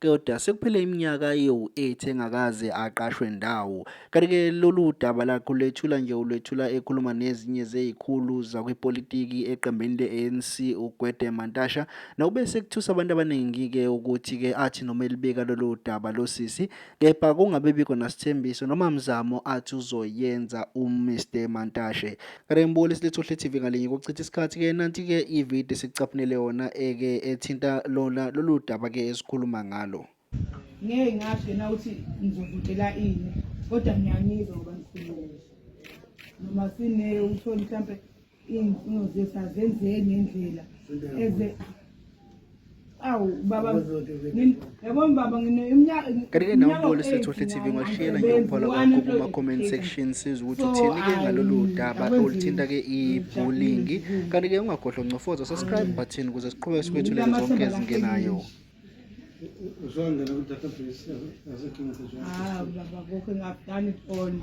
Kodwa sekuphele iminyaka ewu-8 engakaze aqashwe ndawo. Kanti-ke lolu daba lakhe ulwethula nje ulwethula ekhuluma nezinye zezikhulu zakwipolitiki eqembini le-ANC uGwede Mantasha. Nokube sekuthusa abantu abaningi-ke ukuthi-ke athi noma elibika lolu daba losisi kepha kungabe bikho nasithembiso noma mzamo athi uzoyenza uMr Mantashe. Kanti ngibukele isilethohle TV ngalinye kuchitha isikhathi ke nanti ke ivideo sicaphunele yona eke eh, ethinta lona lolu daba ke esikhuluma ngalo. Ngeke ngasho na uthi ngizovutela ini kodwa ngiyamizwa ngoba ngikhulumile. Noma sine utholi mhlambe ingfuno zethu azenzeki ngendlela eze awu baba yabona baba ngineminyaka kanike nawe mbolo sethohle TV ngwashiyela nje upholo kwakho kuma comment section siza ukuthi uthini ke ngalolu daba oluthinta ke i-bullying kanti ke ungagodlo ncofoza subscribe button ukuze siqhubeke sikwethulele zonke ezingenayo uzongena ku-database yasekinto ah baba kokho ngakudani foni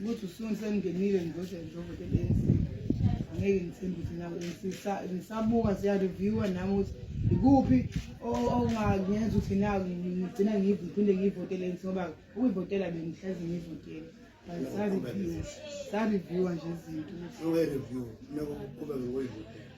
ukuthi usuni sengingenile ngizoshe ngizovota i-ANC angeke ngithembe ukuthi nawe ngisabuka siyareviwa nami ukuthi ikuphi ongangenza ukuthi na ngigcina ngiphinde ngiyivotele i-ANC ngoba ukuyivotela bengihlezi ngiyivotele sareviwa nje izinto